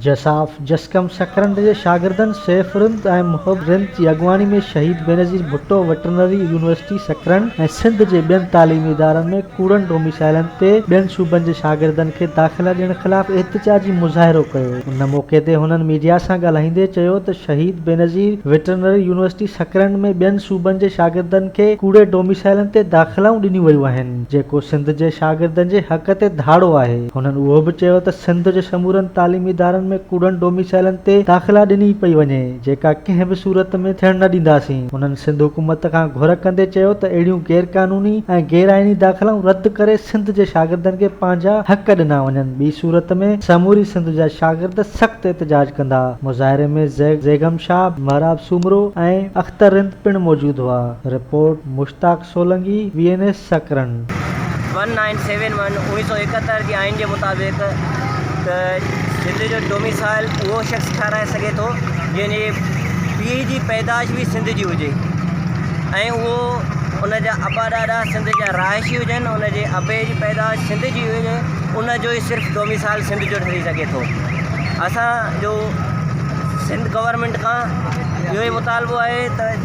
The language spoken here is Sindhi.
جساف، جسقم سڪرنڊ جي شاگردن سيف رند ۽ محب رند جي اڳواڻي ۾ شهيد بينظير ڀٽو وٽرنري يونيورسٽي سڪرنڊ ۽ سنڌ جي ٻين تعليمي ادارن ۾ ڪوڙن ڊوميسائيلن تي ٻين صوبن جي شاگردن کي داخلا ڏيڻ خلاف احتجاجي مظاهرو ڪيو. ان موقعي تي هنن ميڊيا سان ڳالهائيندي چيو ته شهيد بينظير وٽرنري يونيورسٽي سڪرنڊ ۾ ٻين صوبن جي شاگردن کي ڪوڙي ڊوميسائيلن تي داخلائون ڏنيون ويون آهن جيڪو سنڌ جي شاگردن جي حق تي ڌاڙو آهي هنن اهو به چيو ته سنڌ جي سمورن تعليمي ادارن ۾ ڪوڙن ڊوميسائيلن تي داخلا ڏني پئي وڃي جيڪا ڪنهن به صورت ۾ ٿيڻ نه ڏينداسين. هنن سنڌ حڪومت کان گهر ڪندي چيو ته اهڙيون غير قانوني ۽ غير آئيني داخلائون رد ڪري سنڌ جي شاگردن کي پنهنجا حق ڏنا وڃن ٻي صورت ۾ سموري سنڌ جا شاگرد سخت احتجاج ڪندا مظاهري ۾ زيغم شاهه، مهراب سومرو ۽ اختر رند پڻ موجود هئا report, Mushtaq Solangi, V N S Sakrand. One nine seven one, اوڻيھ سئو ايڪهتر، جي آئين جي مطابق ته سنڌ جو ڊوميسائل اهو شخص ٺهرائي سگهي ٿو جنهن جي پيء جي پيدائش به سنڌ جي هجي ۽ اهو ان جا ابا ڏاڏا سنڌ جا رهائشي هجن ان جي ابي جي پيدائش سنڌ جي هجي ان جو ئي صرف ڊوميسائل سنڌ جو ٺهري سگهي ٿو اسان جو سنڌ گورنمينٽ کان اهو ئي مطالبو آهي ته